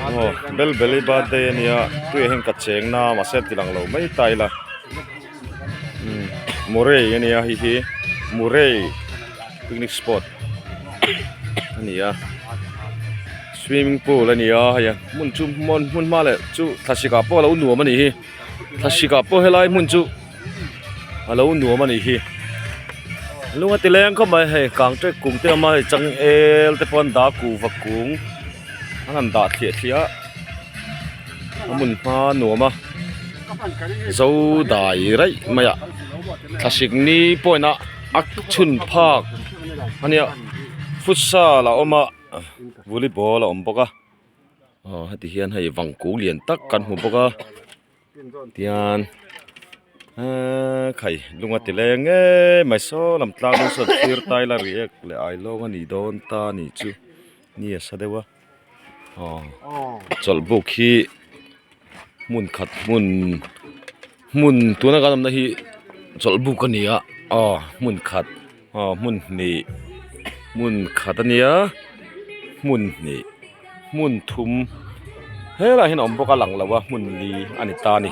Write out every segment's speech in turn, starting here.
aw bel bel i birthday a nia tui ah hian ka cheng na a mahse a tilang lo mai ta ila umm murray a nia hei hi murray picnic spot a ni a swimming pool a ni a hei a hmun chu hmun hma leh chu thlasikah pawh a lo nuam a nih hi. Thlasika pawh helai hmun chu a lo nuam a nih hi a lung a ti leng khawp mai hei kang ṭek kung te awm a hei changel te pawh an dah a kuh vak kung an han dah thliah thliah a a hmun hma a nuam a zo dai raih mai a thlasik ni point a a chhun phak a nia futsal a awm a volleyball a awm bawk a. aw heti hian hei vang kung lian tak kan hmu bawk a tian eeee khai lung a ti leng ngei mai saw lam tlang deuh sawn thlir tai la ri ek leh ai lawng a nih dawn ta nih chu ni a sa deuh a aw chawlhbuk hi hmun khat hmun-- hmun tuna kan awmna hi chawlhbuk a ni a aw hmun khat aw hmun hnih hmun khat a nia hmun hnih hmun thum helai ah hian a awm bawk a lang lo a hmun li a ni ta a ni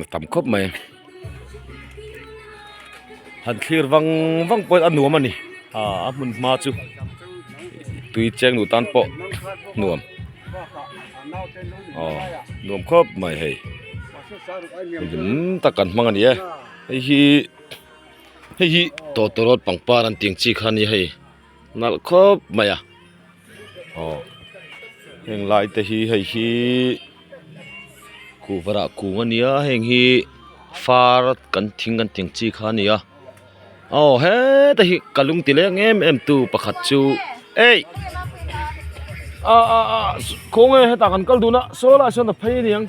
a tam khawp mai. han thlir vang vang pawh a nuam a ni aaa a hmun hma chu tui cheng duh tan pawh nuam aw nuam khawp mai hei milim tak kan hmang a ni e hei hi hei hi tawtawrawt pangpar an tih ang chi kha nia hei. nalh khawp mai a aw heng lai te hi hei hi kuh varah kung a nia heng hi far kan thing kan tih ang chi kha a nia aw heta hi ka lung ti lek em em tu pakhat chu eih ah ah ah khawnge heta kan kal dun a saw lai sawn a phei a ni ang.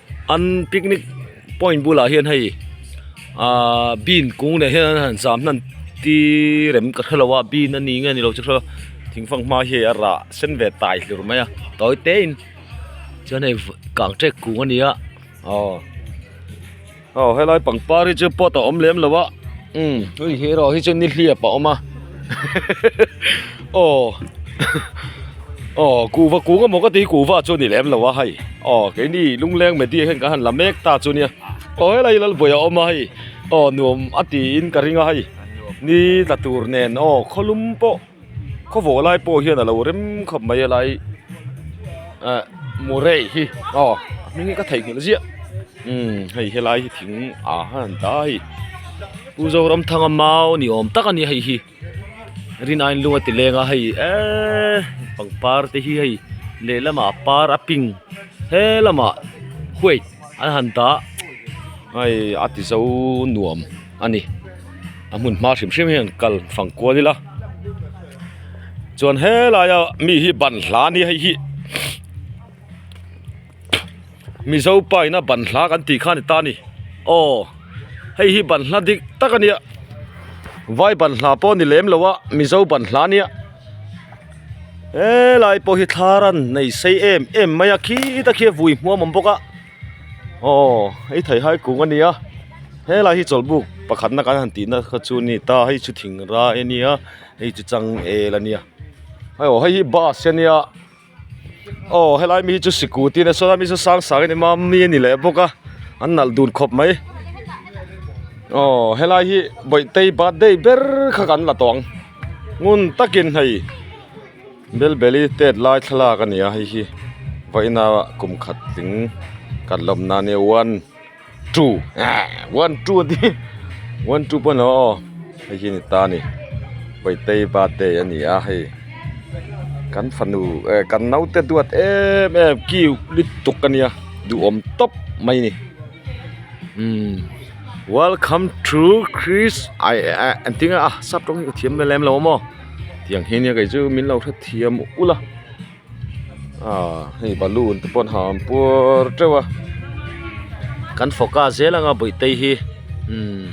An picnic point bulah hian hei aaa bean kung leh hian an han zam hman ti rem ka hre lo a bean a ni nge ni lo ka hre lo thing fanghma hi a rah sen ve tai hlir mai a tawi te in chuan hei kang ṭek kung a ni a aw aw helai pangpar hi chu pot a awm lem lo a umm hei hi erawh hi chu nihliap a awm a. aw aw kuhva kung emaw ka ti hi kuhva chu a ni lem lo a hei aw keini lungleng media hian kan han la mek ta chu nia aw helai hi Lalpuia a awm a hei aw nuam a tiin ka ring a hei ni tla tur nen aw khawlum pawh khawvawh lai pawh hian a lo rem khawp mai a lai ah murei hi aw a hming hi ka theihnghilh ziah umm hei helai hi thing ah hian ta a hei. Pu Zoramthanga mau ni awm tak a ni a hei hi rin aiin lung a ti leng a hei eeee pangpar te hi hei lehlamah a par a pink he lamah white an han dah hei a ti zo nuam a ni a hmun hma hrim hrim hian kal fang kual ila chuan he laia mi hi ban hla a ni a hei hi. mizo paina ban hla kan tih khan a ni ta a ni aw hei hi ban hla dik tak a nia vai ban hla pawh a ni lem lo a mizo ban hla a nia helai pawh hi thar an nei sei em em mai a khi ta khi a vui hmuam awm bawk a aw hei theihai kung a ni a helai hi chawlhbuk pakhatna kan han tihna kha chu a ni ta hei chu thingra a nia hei chu changel a nia hei aw hei hi bus a nia. aw helai mi hi chu sikut in a sawi a mi chu sang sang in ema mi a ni leh bawk a an nalh dun khawp mai aw helai hi bawihtei birthday ber kha kan la tawh ang ngun takin hei bel beli tet lai thlalak a ni a hei hi vawiina kum khat tling kan lawmna a nia one two one two te hi one two pawh a ni hlawm aw hei hi a ni ta a ni bawihtei birthday a ni a hei kan fanu eh kan naute duat em em kiu lutuk a nia duhawm tawp mai a ni umm welcome to kris ai eh an tih ang a sap tawng hi ka thiam leh lem lo maw tiang hi nia kei chu min lo hrethiam ulh a. ah hei balloon te pawh an ha puar teuh a kan focus zel anga buaitei hi umm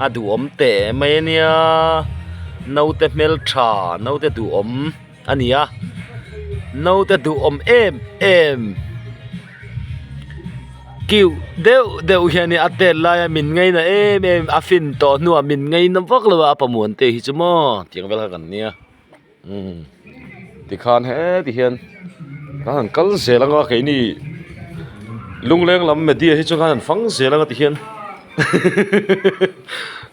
a duhawm teh mai a nia naute hmeltha naute duhawm a ni a naute duhawm em em cute deuh deuh hi a ni a a tel laia min ngaina em em a fin tawh hnu ah min ngaina vak lo a a pamuante hi chu maw tih ang vel kha kan nia. umm tikhan heti hian ka han kal zel anga keini lungleng lam media hi chu kha han fang zel anga ti hian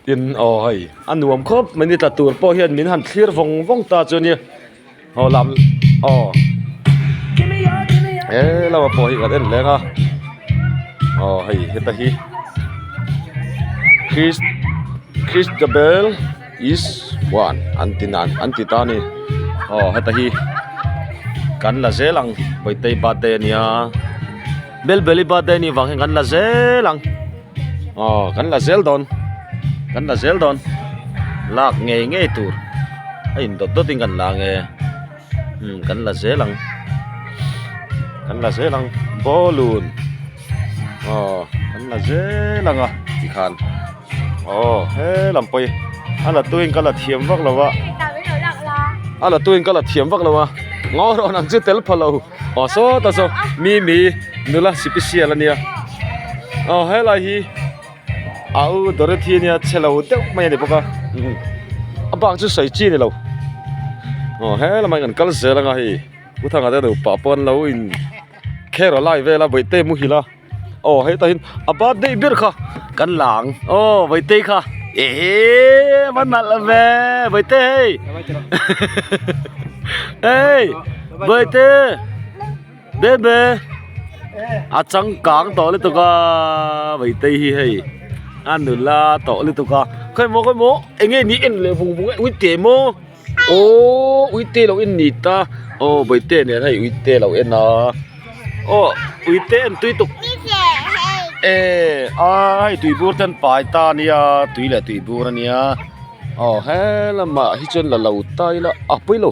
tin aw hei a nuam khawp mai ni tla tur pawh hian min han thlir vawng vawng ta chuan nia aw lam aw he lama pawh hi kan en leng a aw hei heta hi christabel. Is chuan an ti nan an ti ta a ni aw heta hi kan la zel ang Bawihtei birthday a nia Belbeli birthday a nih vang hian kan la zel ang aw kan la zel dawn kan la zel dawn lak ngei ngei tur a in dawt dawt in kan la ang e. umm kan la zel ang kan la zel ang bawlun aw kan la zel ang a ti khan aw he lam pawh hi a la tuiin ka la thiam vak lo va a la tuiin ka la thiam vak lo va ngaw rawh ang chu tel pha lo aw sawta saw mimi nula sipi sial a nia aw helai hi. Au Dorothy ania che lo deuh mai a ni bawk a a bak chu sawi chi a ni lo aw he lam ah an kal zel anga hei pu Thanga te nupa pawh an lo in kher a lai vel a Bawihtei a muhil a aw hetah hian a birthday ber kha kan la ang aw Bawihtei kha eehh va nalh ang ve Bawihtei hei hehehe hei Bawihtei. Bebe a changkang tawh lutuk a Meitei hi hei a nula tawh lutuk a khawi maw khawi maw eng nge ni en leh vung vung a uite maw aww uite lo en ni ta aw Meitei nen hei uite lo en a aw uite en tui tuk eehh a hei tui bur ten pai ta a nia tui leh tui bur a nia aw he lamah hi chuan la lo ta ila a pawi lo.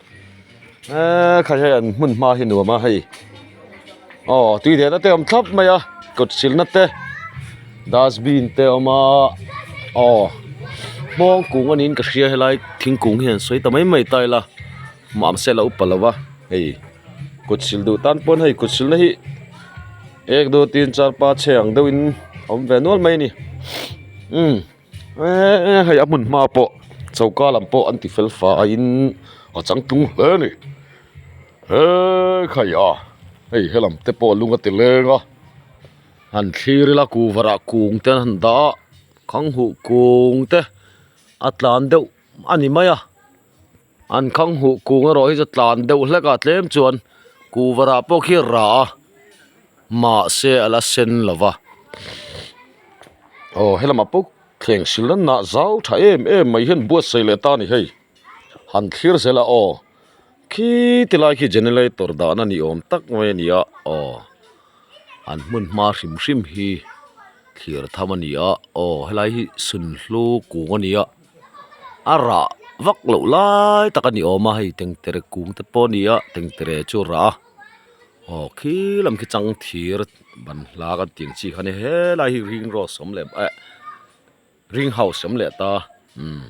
eee kha hian an hmun hma hi nuam a hei aw tui leh na te awm thlap mai a kut sil na te dustbin te a awm a aw hmawng kung a niin ka hria helai thingkung hi an sawi ta mai mai ta ila mahse se la upa lo va hei kut sil duh tan pawn hei kut sil na hi ek do tin char panchhe ang deuh in awm ve nual mai a ni umm. Eeh hei a hmun hma pawh choka lam pawh an ti fel fai in a chang tlung hle a ni hekha ia hei helam te pawh lung a ti leng a han thlir ila ku varah kung te an han dah a khang huh kung te a tlan deuh a ni mai a. an khang huh kung erawh hi chu tlan deuh hlek a tlem chuan kuvar ah pawh khi a rah a mahse a la sen lo va aw he lamah pawh thleng sil ran na zau tha em em mai hian buatsaih leh ta a ni hei han thlir zel a aw khi ti lai khi generator dah na ni awm tak mai a ni a aw an hmun hma hrim hrim hi thlir tham a ni a aw he lai hi sunhluk kung a ni a. a rah vak loh lai tak a ni awm a hei tengtere kung te pawh a ni a tengtere chu a rah a aw khil lam khi chang thir ban hla kan tih ang chi kha nia helai hi ring road awm leh eh ring house awm leh ta umm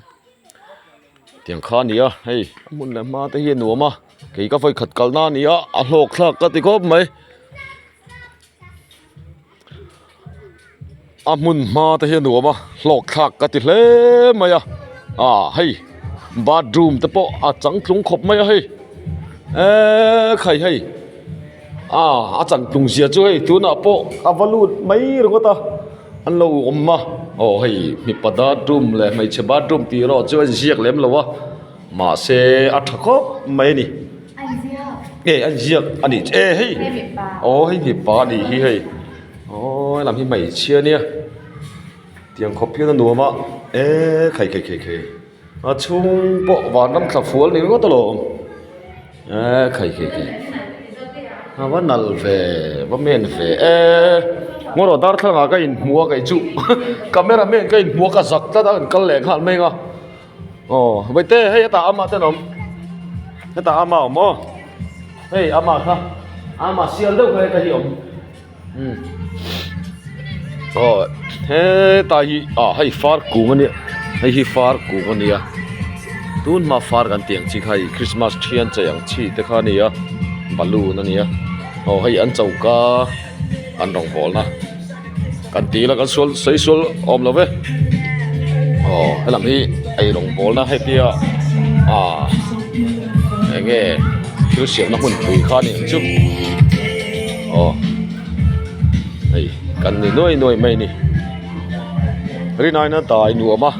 tiang kha a ni a hei a hmun leh a hma te hi a nuam a kei ka vawikhat kalna a ni a a hlawk thlak ka ti khawp mai. a hmun hma te hi a nuam a hlawkthlak ka ti hle mai a ah hei bathroom te pawh a changtlung khawp mai a hei eeee khai hei ah a changtlung zia chu hei tunah pawh a va lut mai ringawt a an lo awm a aw hei mipa bathroom leh hmeichhe bathroom tih erawh chu a inziak lem lo a mahse a tha khawp mai a ni. Hei an ziak a nih che e hei aw hei mipa a nih hi hei aww a lam hi hmeichhia a nia tiang khaw phian a nuam a eeee khai khai khai khai a chhung pawh van lam thla fual ni ngawt alawm eeee khai khai khai a va nal ve va men ve eeee ngaw rawh darthlalang ah ka inhmu a kei chu camera man ka inhmu a ka zak tlat a an kal leh nghal mai ang a. aw vaite hei hetah ama ten awm hetah ama awm aw hei ama kha ama sial deuh kha heta hi awm um aw hetlai hi ah hei far kung ania hei hi far kung ania tunhma far kan tih ang chi kha hei krismas thianchei ang chi te kha ania balloon ania aw hei an choka. an rawn hawl a kan ti ila kan sual sawi sual awm lo e aw helam hi ei rawn hawl na hetia ah eng nge thil siam na hmun pui kha nen chu aw hei kan ni nuai nuai mai ni rinai na ta i nuam a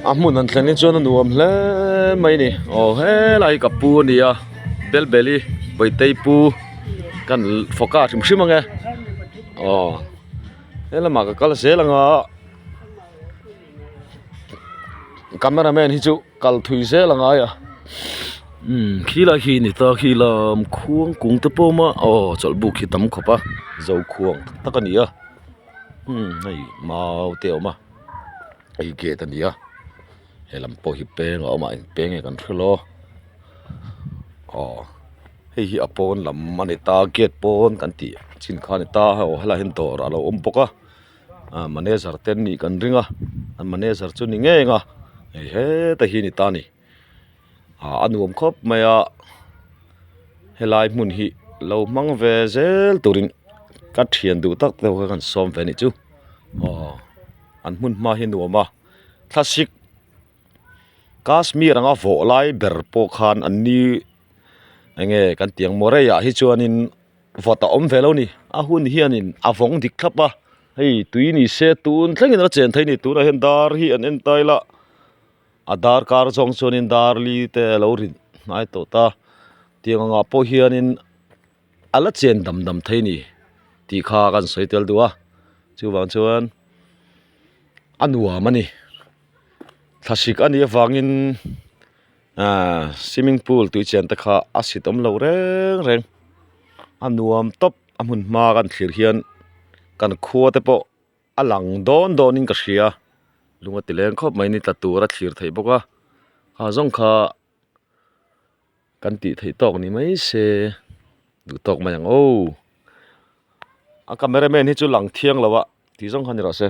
a hmun an thleng hi chuan a nuam hle mai ni aw helai ka pu a nia. belbeli bawihtei pu kan fawk a a hrim hrim ang e aw he lamah ka kal zel ang a camera man hi chu kal thui zel ang ai a imm khilai khi a ni ta khilam khuang kung te pawh a awm a aw chawlhbuk hi tam khawp a zokhuang tak tak a ni a imm hei mau te a awm a hei gate a ni a. he lam pawh hi peng a awm a eng peng nge kan hre lo aw hei hi a pawn lam a ni ta gate pawn kan tih chin kha a ni ta aw he lah hian dawr a lo awm bawk a ah manager te an nih kan ring a an manager chu ni ngei anga hei heta hi a ni ta a ni ah a nuam khawp mai a he lai hmun hi lo hmang ve zel turin ka thian duh tak deuh ka rawn sawm ve anih chu aw an hmun hma hi a nuam a. Thlasik Kashmir anga vawh lai ber pawh khan an ni eng nge kan tih ang Morei ah hi chuanin vawt a awm ve lo ni a hun hianin a vawng dik thlap a hei tui ni se tun thleng in a chen theih a ni tunah hian dar hi an en tail a a dar kar zawng chuanin darli te a lo rinhai tawh ta tiang angah pawh hianin-- a la chen dam dam thei ni tih kha kan sawi tel deuh a chuvang chuan a nuam a ni thlahrek a nih avangin aaa swimming pool tui chen te kha a sit awm loh reng reng a nuam tawp a hmun hma kan thlir hian kan khua te pawh a lang dawn dawn in ka hria lung a ti leng khawp mai ni tla tura thlir theih bawk a a zawng kha-- Kan tih theih tawk ni mai se duh tawk mai ang aw a camera man hi chu lang thiang lo a tih zawng kha ni loh se.